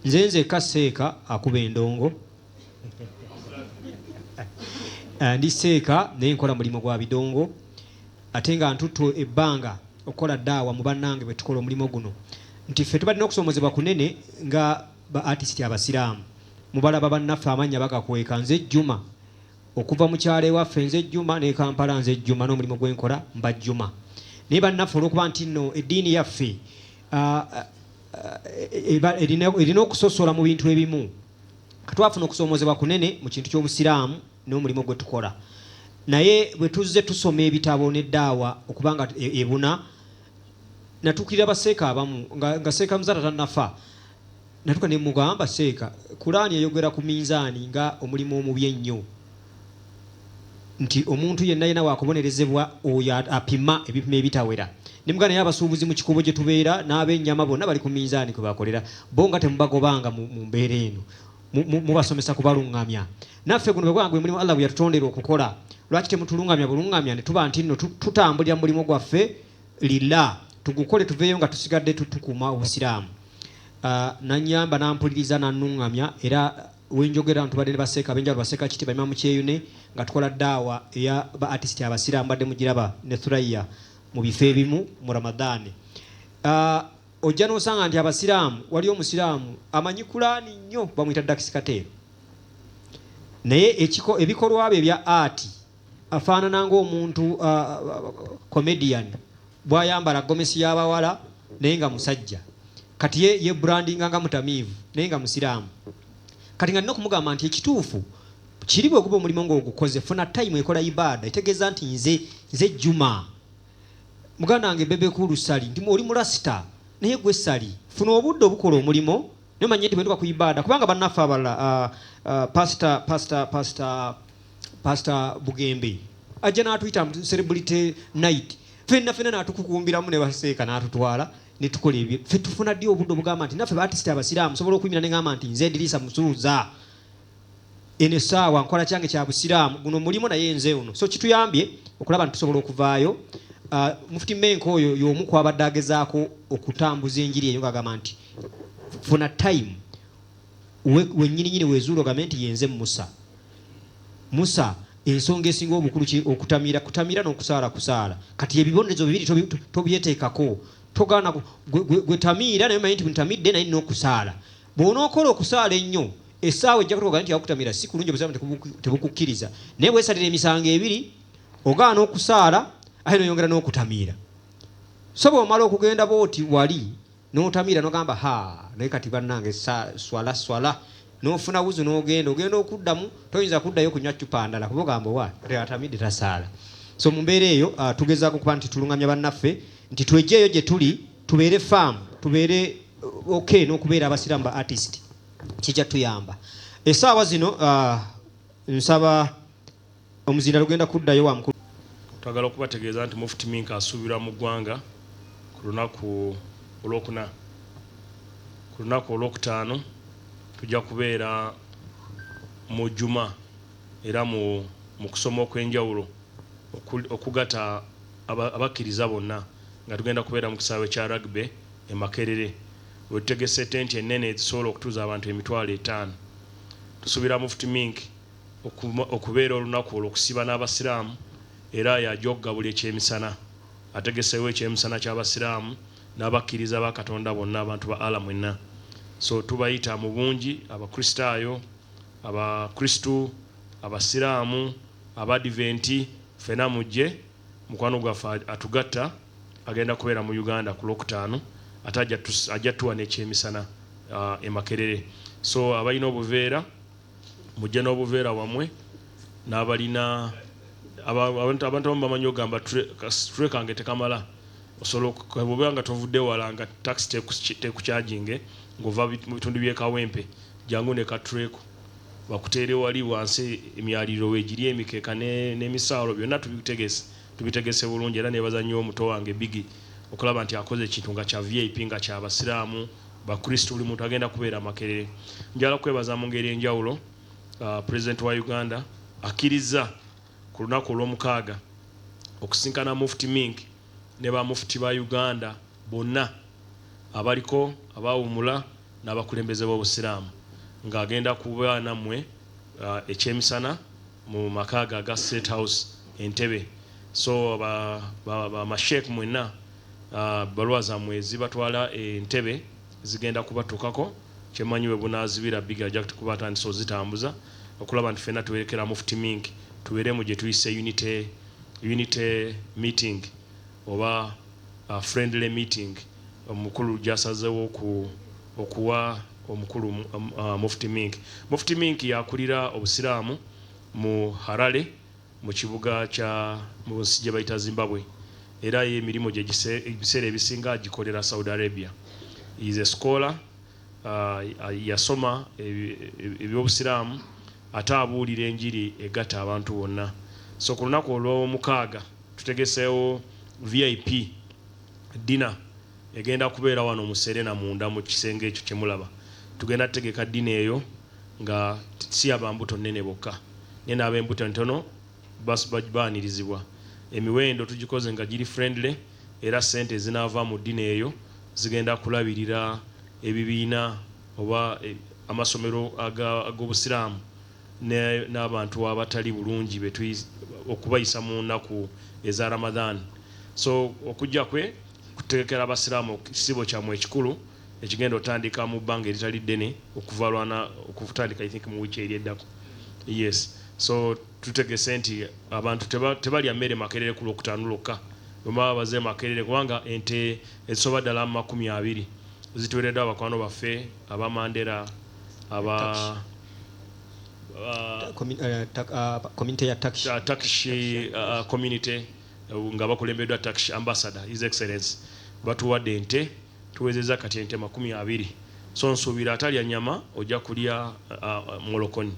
Nze nzekka seeka akuba endongo Ndi seeka naye nkola mulimu gwa bidongo Ate nga ntuttu ebbanga okukola daawa mu bannange bwe tukola omulimu guno Nti ffe tubadde n'okusoomozebwa kunene nga ba atisiti abasiraamu Mubalaba bannaffe amannya bagakweka Nze Juma okuva mu kyalo ewaffe Nze Juma n'e Kampala Nze Juma n'omulimu gwe nkola mba Juma Naye bannaffe olw'okuba nti nno eddiini yaffe uh, erina okusosola mu bintu ebimu katwafuna okusoomozebwa kunene mu kintu ky'obusiraamu n'omulimu gwe tukola naye bwe tuzze tusoma ebitabo neddaawa okubanga e, ebuna natuukirira baseeka abamu nga seeka muzata tanafa natuka nemugamba seeka kulaani eyogera ku minzaani nga omulimu omubi ennyo nti omuntu yenna yenna wakubonerezebwa oyo apima ebipimo ebitawera ne muganda naye abasuubuzi mu kikuubo gye tubeera n'abennyama bonna bali ku minzaani kwe bakolera bo nga temubagobanga mu mu mbeera eno mu mu mubasomesa kubalungamya naffe guno bwe gwa gwe mulimu Allah gwe yatutondera okukola lwaki temutulungamya bulungamya ne tuba nti nno tutambulira mu mulimu gwaffe lillah tugukole tuveeyo nga tusigadde tukuuma obusiraamu uh, nanyamba nampuliriza nanungamya era Wenjogera abantu mbadde ne ba seeka abenjawulo ba seeka kiti ba Imam Kyeyune nga tukola daawa eya ba artist abasiraamu mbadde mugiraba ne Thuraiya mu bifo ebimu mu Ramadhan uh, ojja n'osanga nti abasiraamu waliyo omusiraamu amanyi kulaani nnyo bamuyita Dax Kateero naye ekiko ebikolwa bye ebya art Afaanana ng'omuntu comedian bwayambala gomesi y'abawala naye nga musajja. Kati ye yebrandinga nga mutamiivu naye nga musiraamu. Kati nga nina okumugamba nti ekituufu kiri bweguba omulimo nga ogukoze funa time ekola ibaada etegeeza nti nze nze Juma muganda wange Bebe Cool Ssali nti oli mulasita naye gwe Ssali funa obudde obukola omulimo Naye manyi nti bwe ntuka ku ibaada kubanga bannaffe abalala uh, uh, pasita pasita pasita pasita Bugembe ajja n'atuyita mu celebrity night fenna fenna n'atukukumbiramu ne baseeka n'atutwala ne tukola ebyo ffe tufuna ddi obudde obugamba nti naffe baatisita abasiraamu sobola okuyimira ne ngamba nti nze Ediriisa Musuuza Eno esaawa nkola kyange kya busiraamu guno mulimo naye nze ono so kituyambye okulaba nti tusobola okuvaayo uh, mufuti menka oyo y'omu kwabadde agezaako okutambuza enjiri eyo ng'agamba nti funa time wenyininyini we wezuula ogambe nti yenze musa musa ensonga esinga obukulu ki okutamira kutamira n'okusaala kusaala kati ebibonerezo bibiri tobyeteekako togaana gwetamiira naye manyi nti ntamidde naye nina okusaala Bw'onookola okusaala ennyo, essaawa ejja kutuuka nti akutamira. Si kulungi obusiraamu tebuku- tebukukkiriza, naye bwesalira emisango ebiri, ogaana okusaala ate n'oyongera n'okutamiira. So bw'omala okugenda bw'oti wali n'otamiira n'ogamba haa naye kati bannange sa swala swala n'ofuna wuzu n'ogenda ogenda okuddamu toyinza kuddayo kunywa ccupa ndala kuba ogamba owa kati atamidde tasaala. So mu mbeera eyo ah, tugezaako okuba nti tulungamya bannaffe nti twegyeyo gye tuli tubeere faamu tubeere uh, ok n'okubeera abasiraamu ba artist kijja tuyamba esaawa zino uh, nsaba omuzinda lugenda kuddayo wa mukulu twagala okubategeeza nti mufti minka asuubirwa mu ggwanga ku lunaku olwokuna ku lunaku olwokutaano tujja kubeera mu juma era mu kusoma okw'enjawulo okugata abakkiriza bonna nga tugenda kubeera mu kisaawe kya Rugby e Makerere wetutegese tenti ennene ezisobola okutuuza abantu emitwalo etaano. Tusuubira Mufti Mink okubeera olunaku olwokusiiba n'abasiraamu era yajogga buli ekyemisana. Ategeseewo ekyemisana ky'abasiraamu n'abakkiriza ba Katonda bonna abantu ba Allah mwenna. So tubayita mu bungi abakristaayo, abakristu, abasiraamu, Abadiventi ffena mujje, mukwano gwaffe atugatta agenda kubeera mu Uganda ku Lwokutaano ate ajja tuwa n'ekyemisana e Makerere. So abalina obuveera mujje n'obuveera bwamwe n'abalina, abantu abamu bamanyi ogamba ka situle kange tekamala osobola bwobeera nga tovudde wala nga takisi tekucaginge ng'ova mu bitundu by'e Kawempe jangu ne ka situle ko bakuteere wali wansi emyaliriro wegiri emikeka ne nemisaalo byonna tubitegese tubitegese bulungi era nebaza nnyo muto wange Biggie okulaba nti akoze ekintu nga kya vip nga kya basiraamu bakristu buli muntu agenda kubeera Makerere njagala kwebaza mu ngeri enjawulo president wa Uganda akkirizza ku lunaku olwomukaaga okusinkana Mufti Mink ne ba Mufti ba Uganda bonna abaliko abawumula n'abakulembeze b'obusiraamu nga agenda kuba nammwe ekyemisana mu maka ge aga state house Entebbe so ba ba ma sheik mwenna ebbaluwa zammwe ezibatwala e Ntebbe zigenda kubattukako kyemmanyi webunaazibira Biggie ajakuti kuba atandise ozitambuza okulaba nti ffenna tuwerekera mufti Mink tubeere mu gyetuyise unity unity meeting oba friendly meeting. omukulu gyasazewo ku okuwa omukulu Mufti Mink. Mufti Mink y'akulira obusiraamu mu Harare mu kibuga kya mu nsi gye bayita Zimbabwe era ye emirimu gye ebiseera ebisinga agikolera Saudi Arabia. He is a scholar, yasoma eby'obusiraamu ate abuulira enjiri egatta abantu bonna. So ku lunaku olw'omukaaga tutegeseewo VIP. Ddina egenda kubeera wano mu Serena munda mu kisenge ekyo kye mulaba. Tugenda tutegeka ddina eyo nga si ya ba mbuto nnene bokka, naye n'ab'embuto entono bas ba baanirizibwa. Emiwendo tugikoze nga giri friendly, era ssente ezinaava mu ddina eyo zigenda kulabirira ebibiina oba amasomero aga ag'Obusiraamu. n'abantu abatali bulungi okubayisa mu nnaku eza Ramadhan so okujja kwe kutegekera abasiraamu ekisiibo kyamwe ekikulu ekigenda otandika mu bbanga eritali ddene okuva lwana okutandika i think mu week eri eddako yes so tutegese nti abantu tebalya mmere makerere ku lwokutaano lwokka bwemaba baze makerere kubanga ente ezisoba ddala mu makumi abiri zituwereddwa bakwano baffe aba Mandera aba community ya taxi uh, taxi uh, community uh, nga bakulembeddwa taxi ambassador his excellence batuwadde ente tuwezeza kati ente makumi abiri so nsuubira atalya nyama ojja kulya uh, uh, mulokonyi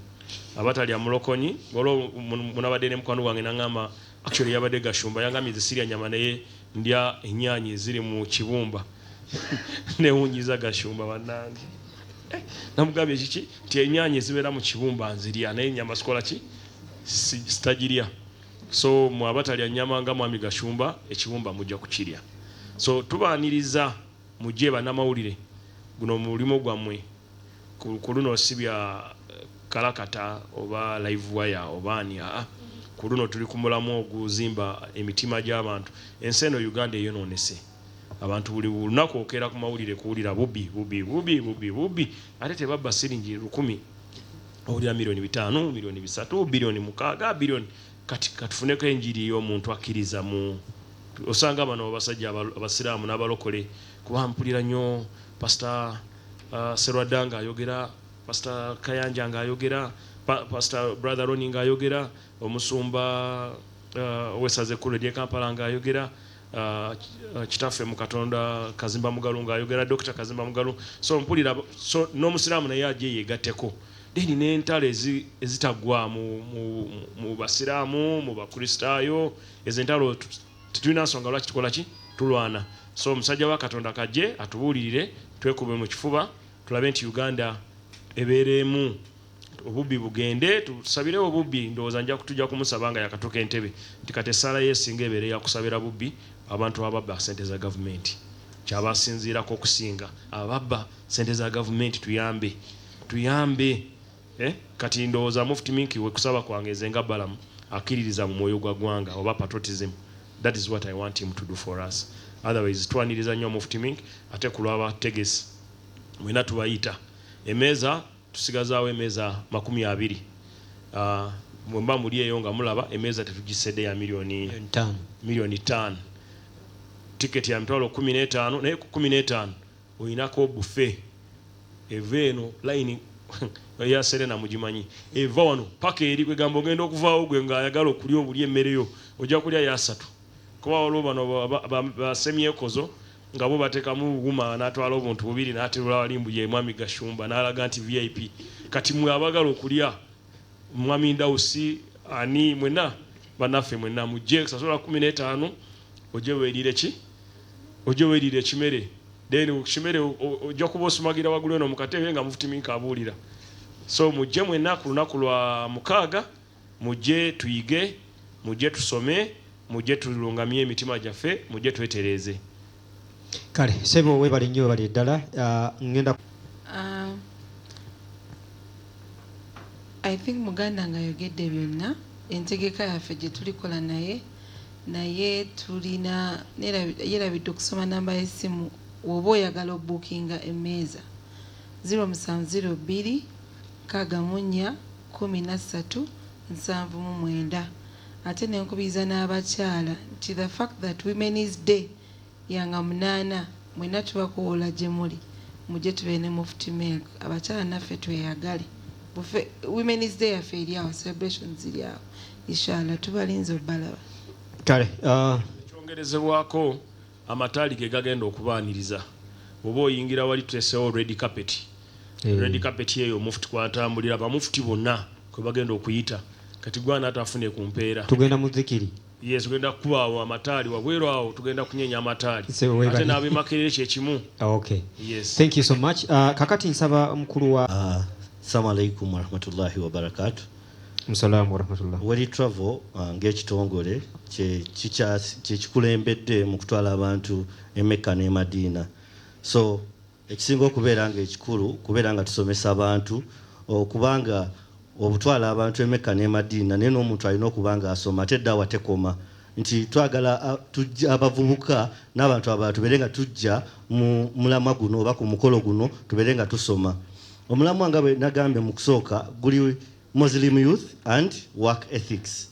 abatalya mulokonyi olwo munabadde ne mukwano gwange nangamba Actually yabadde Gashumba yangambye nze sirya nyama naye ndya enyaanya eziri mu kibumba newunyiza Gashumba banange namugambye kiki nti enyaanya ezibeera mu kibumba nzirya naye nyama sikola ki sitagirya so mwabatalya nyama nga mwami Gashumba ekibumba mujja kukirya so tubaaniriza mujje banamawulire guno mulimu gwammwe. kuluno sibya kalakata oba live wire oba ani aa kuluno tuli kumulamwa oguzimba emitima gyabantu ensi eno Uganda eyononese abantu buli lunaku okeera kumawulire kuwulira bubi bubi bubi bubi bubi ate tebabba silingi lukumi owulira million bitaano million bisatu billion mukaaga billion kati katufuneko enjiri yomuntu akkiriza mu osanga bano abasajja abasiramu nabalokole kuba mpulira nyo pastor uh, Serwada nga ayogera, Pastor Kayanja nga ayogera, pa, Pastor Brother Ronnie nga ayogera, omusumba uh, wesaze ku Radio Kampala nga ayogera uh, uh, kitaffe mu Katonda Kazimba Mugalu nga ayogera, Dr. Kazimba Mugalu. So mpulira so n'omusiraamu naye aje yegateko. Deni n'entalo ezitaggwaamu mu, mu, mu basiraamu, mu bakristaayo, ezo entalo Tetulina nsonga lwaki tukola ki? Tulwana. So omusajja wa Katonda kajje atubuulirire, twekube mu kifuba tulabe nti Uganda ebeera emu, obubbi bugende. Tusabirewo obubbi. Ndowooza nja tujja kumusaba nga yakatuuka e Ntebe nti kati essaala yo esinga ebeere ya kusabira bubbi, abantu ababba ssente za Gavumenti. Ky'aba asinziirako okusinga. Ababba ssente za Gavumenti tuyambe. Tuyambe. Eh kati ndowoza mufti minky we kusaba kwange nze nga Balaam akiririza mu mwoyo gwa gwanga oba patriotism that is what I want him to do for us otherwise twaniriza nyo mufti mink ate kulwa ba tegesi mwena tubayita emeza tusigazawo emeza makumi abiri ah, mwemba muli eyo nga mulaba emeza tetujisede ya milioni milioni tano ticket ya mitwalo kumi netano naye kumi netano Oyinako obufe eva eno line ya serena mugimanyi eva wano paka eri kwegamba ogenda okuvawo gwe nga ayagala okulya obulya emmere yo oja kulya yo asatu kuba waliwo bano ba semyekozo nga bo batekamu wuma natwala obuntu bubiri naterula wali mbu ye mwami gashumba nalaga nti vip kati mwe abagala okulya mwami ndausi ani mwena banaffe mwena mujje sasola kumi netano oje welire ki oje welire ekimere then kukimere oja kuba osumagira wagulu eno mukatebe nga mufuti minka abuulira so mujje mwena kulunaku lwa mukaaga mujje tuyige mujje tusome mujje tulungamye emitima jaffe mujje twetereeze. Kale sebo webale nnyo webalire ddala ngenda uh, I think muganda nga yogedde byonna entegeka yaffe gyetulikola naye naye tulina yerabidde okusoma namba y'essimu woba oyagala obukinga emmeeza 0702631379 ate nenkubiriza n'abakyala nti the fact that women's day Yanga munana mwena tubakowola jemuli mujje tubeere ne mufti melk abakyala naffe tweyagale bufe women's day yaffe eri awo celebrations ziri awo ishallah tubalinze obalaba. Kale uh. Ekyongerezebwako, amataali ge gagenda okubaaniriza. Bw'oba oyingira wali tuteeseewo red carpet. Eh. Red carpet eyo Mufti kw'atambulira, Bamufti bonna kwe bagenda okuyita. Kati gwe ani ataafune ku mpeera? Tugenda mu zikiri. Yee tugenda kukuba awo amataali wabweru awo tugenda kunyenya amataali ate n'abemakerere kyekimu. Okay. Yes. Thank you so much. Uh, kakati nsaba mukulu wa uh, Assalamu alaikum warahmatullahi wabarakatu. Musalamu warahmatullah. Weli Travel uh, ng'ekitongole kyekikulembedde mu kutwala abantu e Mecca n'e Madiina so Ekisinga okubeera nga ekikulu kubeera nga tusomesa abantu okuba nga obutwala abantu e Mecca n'e Madiina naye n'omuntu alina okuba nga asoma ate daawa tekoma nti twagala tujja abavubuka n'abantu abalala tubeere nga tujja mu mulamwa guno oba ku mukolo guno tubeere nga tusoma. Omulamwa nga bwe nagambye mu kusooka guli Muslim Youth and Work Ethics.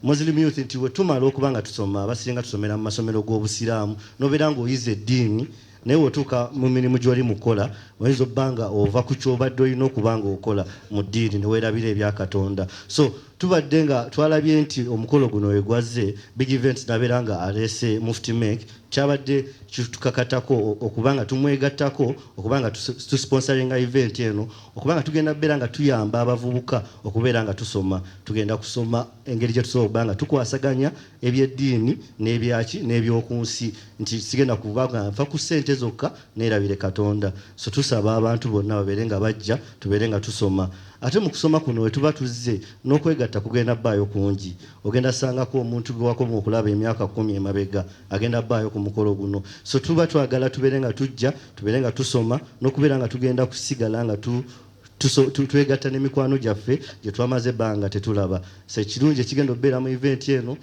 Muslim Youth nti bwe tumala okuba nga tusoma abasinga tusomera mu masomero g'obusiraamu nobeera ng'oyize eddiini naye wotuuka mu mirimu gy'oli mu kukola oyinza obba nga ova ku kyobadde olina okuba nga okola mu ddiini ne weerabira ebya katonda so tubadde nga twalabye nti omukolo guno wegwazze big events nabeera nga aleese mufti mek kyabadde kitukakatako okuba nga tumwegattako okuba nga tusponsoringa event eno okuba nga tugenda kubeera nga tuyamba abavubuka okubeera nga tusoma tugenda kusoma engeri gye tusobola okuba nga tukwasaganya ebyeddiini n'ebyaki n'ebyoku nsi nti sigenda kuba nga nfa ku ssente zokka neerabire katonda so tusaba abantu bonna babeere nga bajja tubeere nga tusoma ate mu kusoma kuno we tuba tuzze n'okwegatta kugenda baayo kungi ogenda sangako omuntu gwe wakoma okulaba emyaka kkumi emabega agenda baayo ku mukolo guno so tuba twagala tubeere nga tujja tubeere nga tusoma n'okubeera nga tugenda kusigala nga tu twegatta ne mikwano gyaffe gye twamaze ebbanga tetulaba so ekirungi ekigenda okubeera mu eventi eno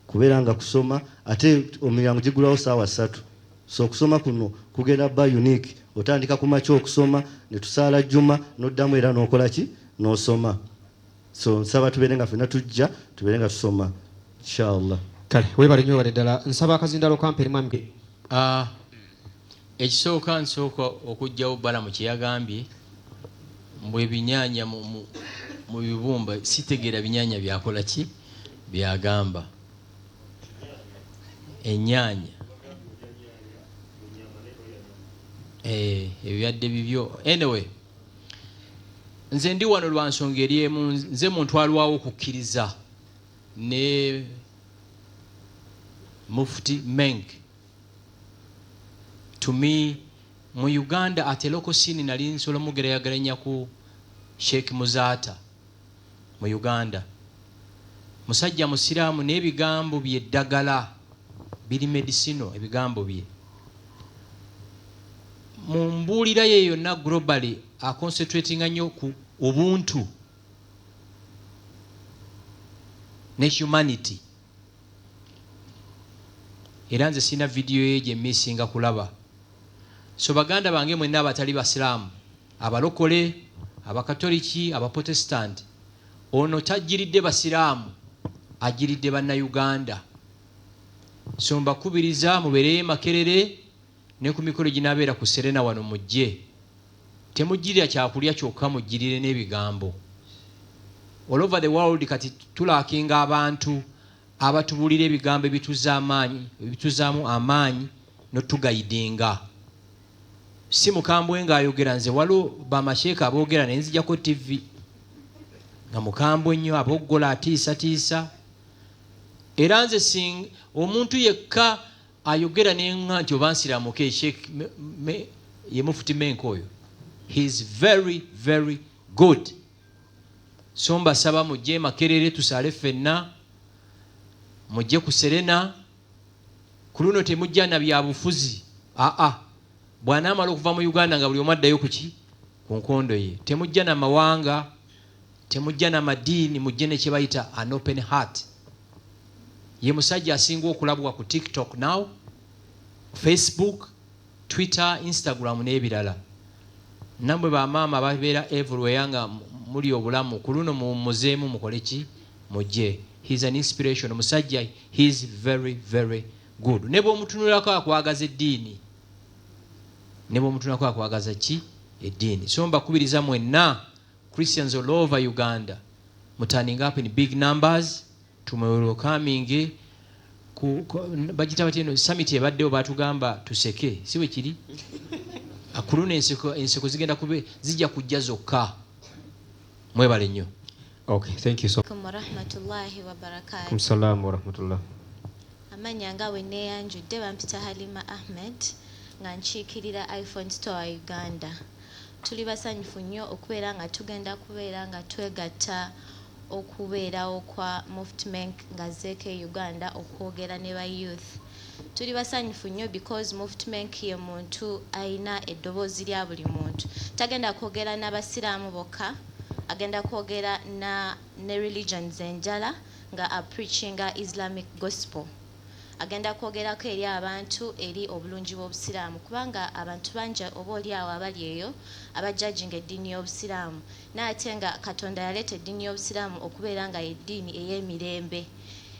kubeera nga kusoma ate omiryango gigulawo saawa ssatu so okusoma kuno kugenda ba unique otandika ku makya okusoma ne tusaala jjuma n'oddamu era n'okola ki n'osoma so nsaba tubeere nga fena tujja tubeere nga tusoma inshallah kale webale nyo webale ddala nsaba akazindalo kamperi mwami ah, ekisooka nsooka okujjawo balamu kyeyagambye mbu ebinyanya mu bibumba sitegeera binyanya byakola ki byagamba enyanya eh, ebyadde bibyo anyway nze ndi wano lwa nsonga eri emu nze muntu alwawo okukkiriza ne mufti meng to me mu uganda atelokosini nali nsobola mugerayageranya ku sheik muzaata mu Uganda musajja musiramu naye ebigambo bye ddagala biri medicinal ebigambo bye mu mbuulira ye yonna globally a concentratinga nnyo ku ubuntu ne humanity era nze sirina vidiyo ye gye missinga kulaba so baganda bange mwenna abatali basiraamu Abalokole, Abakatoliki, Abapotesitanti, ono tajjiridde Basiraamu, ajjiridde Bannayuganda. So mbakubiriza mubeereyo e Makerere ne ku mikolo eginaabeera ku Serena wano mujje. Temujjirira kyakulya kyokka mujjirire n'ebigambo. All over the world kati tulaakinga abantu abatubuulira ebigambo ebituzza amaanyi, ebituzzaamu amaanyi n'otugayidinga. si mukambwe nga ayogera nze waliwo bamasheeka aboogera naye nzijako tivi nga mukambwe nnyo aboggola atiisatiisa era nze sing omuntu yekka ayogera nenga nti oba nsiramuke sheek ye mufuti menka oyo heis very very good so mbasaba mujje makerere tusaale ffenna mujje ku serena Ku luno temujja na byabufuzi aa, bw'anaamala okuva mu Uganda nga buli omu addayo ku ki? Ku nkondo ye. Temujja na mawanga, temujja na madiini, mujje ne kye bayita an open heart. Ye musajja asinga okulabwa ku TikTok now, Facebook, Twitter, Instagram n'ebirala. Namwe ba maama ababeera everywhere nga mulya obulamu kuluno muwummuzeemu mukole ki? Mujje. He is an inspiration omusajja he is very very good nebwomutunulako akwagaza eddiini nebwomutunulako akwagaza kki? Eddiini. So mbakubiriza mwenna Christians all over Uganda mu turning up in big numbers. Tumwewerewo coming ku bagita batya eno summit ebaddewo batugamba tuseke si bwe kiri kuluno enseko enseko zigenda kube zijja kujja zokka mwebale nnyo okay thank you so warahmatullahi wabarakatuh msalamu warahmatullah amanya nga bwe neyanjudde bampita halima ahmed nga nkiikirira iphone store uganda tuli basanyufu nnyo okubeera nga tugenda kubeera nga twegatta okubeerawo kwa Muft Menk nga azzeeko e Uganda okwogera ne ba youth. Tuli basanyufu nnyo because Muft Menk ye muntu alina eddoboozi lya buli muntu. Tagenda kwogera na basiraamu bokka, agenda kwogera na ne religions enjala nga a preachinga Islamic Gospel. Agenda kwogerako eri abantu eri obulungi bw'obusiraamu kubanga abantu bangi oba olyawo abali eyo aba judginga eddiini y'obusiraamu Naye ate nga Katonda yaleeta eddiini y'Obusiraamu okubeera nga y'eddiini ey'emirembe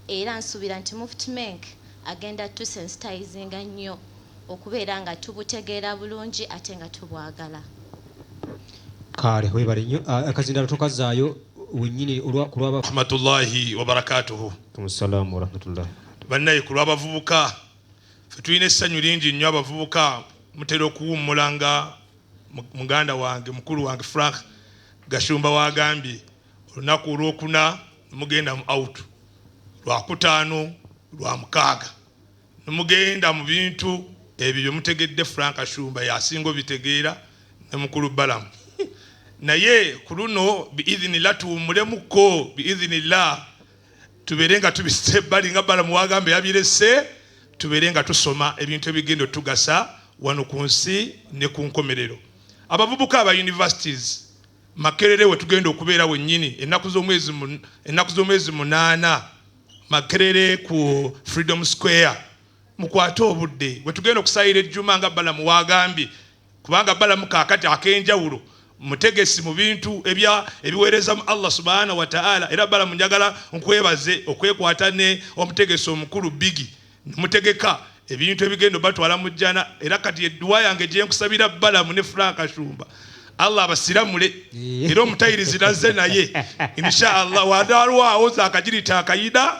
era nsuubira nti Mufti Menk agenda tusensitayizinga nnyo okubeera nga tubutegeera bulungi ate nga tubwagala. Kaale weebale nnyo. Akazindaalo tokazzaayo wennyini ku lwa. Rahmatullahi wabarakatuhu. Waalaikumussalaamu warahmatullahi wabarakatuhu. Bannayee ku lw'abavubuka ffe tulina essanyu lingi nnyo abavubuka mutera okuwummula nga muganda wange mukulu wange Frank Gashumba w'agambye olunaku olwokuna nemugenda mu out lwakutaano lwa mukaaga nemugenda mu bintu ebyo bye mutegedde Frank Gashumba yasinga obitegeera ne mukulu Balamu naye ku luno biidhinillah tuwummulemukko biidhinillah tubeere nga tubisse ebbali nga balamu wagamba yabirese tubeere nga tusoma ebintu ebigenda otugasa wano ku nsi ne ku nkomerero abavubuka aba universities makerere we tugenda okubeera wennyini ennaku z'omwezi munaana makerere ku freedom square mukwate obudde we tugenda okusayira ejjuma nga balamu wagambye kubanga balamu kakati akenjawulo mutegesi mu bintu ebya ebiweereza mu Allah subhanahu wa ta'ala era bala munjagala nkwebaze okwekwata ne omutegesi omukulu bigi mutegeka ebintu ebigendo batwala mu jjana era kati edduwa yange gye nkusabira balamu ne Frank Ashumba Allah abasiramule era omutayirizi nazze naye insha Allah wadalwawo zakajirita akayida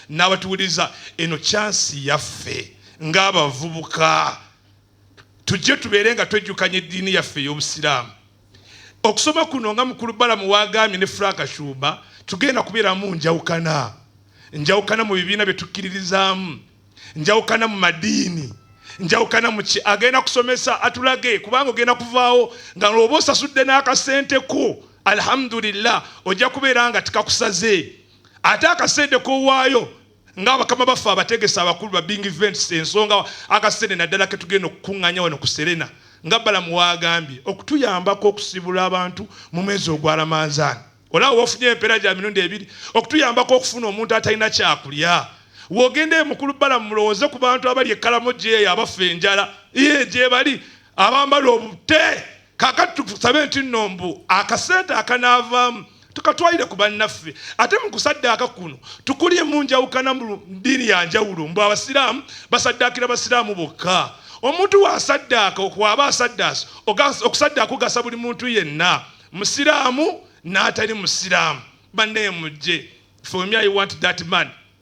n'abatuwuliriza eno kyansi yaffe ng'abavubuka tujje tubeere nga twejjukanya eddiini yaffe ey'obusiraamu okusoma kuno nga mukulu balamu wagambye ne franka shuba tugenda kubeeramu njawukana njawukana mu bibiina bye tukkiririzaamu njawukana mu madiini njawukana muki agenda kusomesa atulage kubanga ogenda kuvaawo nga lwoba osasudde n'akasente ko alhamdulillah ojja kubeera nga tikakusaze ate akasente kowaayo nga abakama baffe abategesi abakulu ba bing events ensonga akasente naddala ketugenda okukunganya wano ku serena nga balamu wagambye okutuyambako okusibula abantu mu mwezi ogwa ramanzaani olaba wofunye empeera gya mirundi ebiri okutuyambako okufuna omuntu atalina kyakulya wogenda emukulu bala mulowooze ku bantu abali ekkalamo gyeyo abafa enjala ye gyebali abambala obute kakati tusabe nti nno mbu akasente akanaavaamu tukatwalire ku bannaffe ate mu kusaddaaka kuno tukulye mu njawukana mu ddiini ya njawulo mbu abasiraamu basaddaakira basiraamu bokka omuntu wasaddaaka okwaba asaddaasi okusaddaaka ogasa buli muntu yenna musiraamu n'atali musiraamu bannaye mujje for me i want that man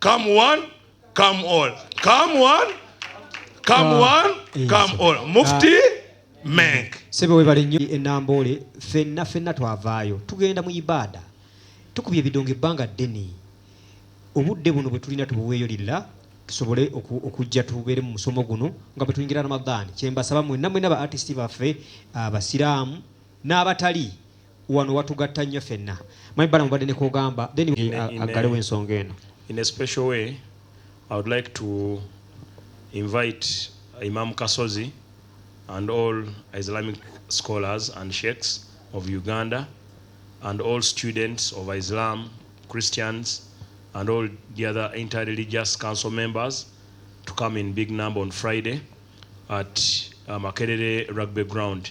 Come one, come all. Come one, come ah, one, eh, come all. Ah. Mufti Menk. Sebe webale nnyo enamboole fenna fenna twavaayo tugenda mu ibaada tukubye ebidongo ebbanga ddene obudde buno bwe tulina tubuweeyo lilla tusobole okujja tubeere mu musomo guno nga bwe tuyingira ramadaani kyembasaba mwenna mwenna ba artist baffe abasiraamu n'abatali wano watugatta nnyo fenna manyi balamu badde nekogamba then aggalewo ensonga eno in a special way i would like to invite imam kasozi and all islamic scholars and sheikhs of uganda and all students of islam christians and all the other interreligious council members to come in big number on friday at uh, makerere rugby ground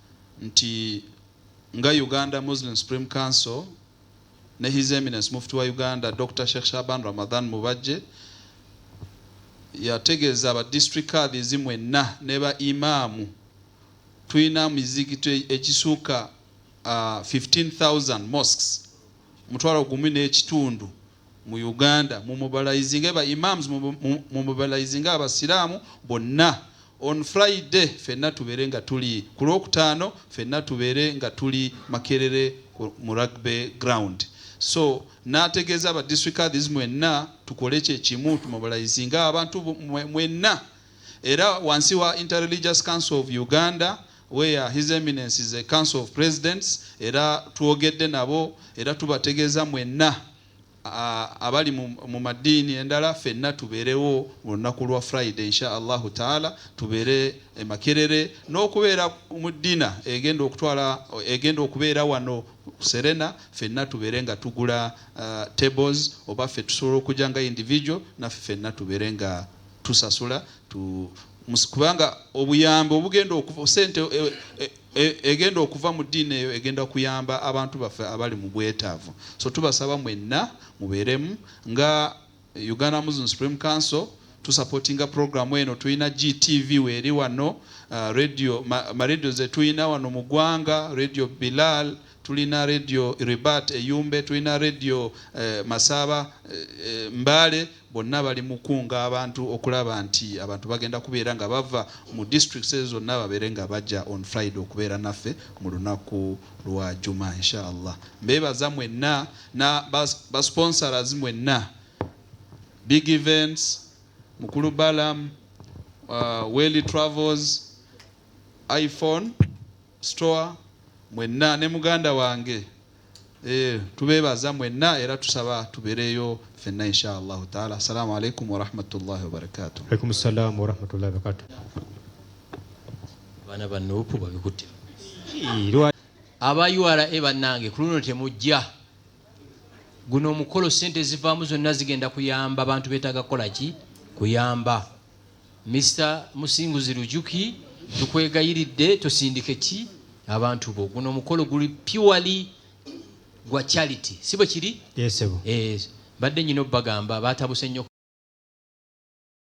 nti nga Uganda Muslim Supreme Council ne His Eminence Mufti wa Uganda Dokita Sheikh Shaban Ramadhan Mubajje yategeeza ba District Kadhis mwenna ne ba Imam tulina mizigito egisuuka 15000 mosques, omutwalo gumu n'ekitundu, mu Uganda mu mobilizinge ba Imams mu mobilizinge abasiramu bonna on Friday fenna tubere nga tuli ku lwokutaano fenna tubere nga tuli Makerere mu rugby ground so nategeza ba district kadhis mwenna tukole kye kimu tu mobilizinge abantu mwenna era wansi wa Inter Religious Council of Uganda where his eminence is a council of presidents era twogedde nabo era tubategeeza mwenna abali mu maddiini endala fenna tubeerewo mu lunaku lwa friday insha allahu taala tubeere emakerere n'okubeera mu ddina egenda okutwala egenda okubeera wano serena fenna tubeere nga tugula uh, tables oba ffe tusobola okujja nga individual naffe fenna tubeere nga tusasula kubanga obuyambi obugenda okuva sente e, e, e, egenda okuva mu ddiini eyo egenda kuyamba abantu baffe abali mu bwetaavu so tubasaba mwenna mubeeremu nga uganda muslim supreme council tusapotinga programu eno tulina gtv weeri wano uh, radio maradio ma zetulina wano mu ggwanga radio bilal Tulina Radio Ribat e Yumbe, tulina Radio e Masaaba e Mbale bonna bali mukunga abantu okulaba nti abantu bagenda kubeera nga bava mu districts ezo zonna babeere nga baja on Friday okubeera naffe mu lunaku lwa Juma inshallah. Mbebaza mwenna na ba sponsors mwenna Big Events, Mukulu Balaam, uh, Welly Travels, iPhone store mwenna ne muganda wange eh, tubebaza mwenna era tusaba tubereyo fenna insha allahu taala assalamu alaikum warahmatullahi wabarakatuh alaikum salamu warahmatullahi wabarakatuh abaana ba nuupu babikutte aba ura bannange ku luno temujja guno omukolo sente ezivaamu zonna zigenda kuyamba abantu betaaga kukola ki kuyamba Mister Musinguzi Lujuki tukwegayiridde tosindike ki abantu bo guno omukolo guli purely gwa charity si bwe kiri Yes, sebo. eh mbadde nyina obbagamba batabuse nyo.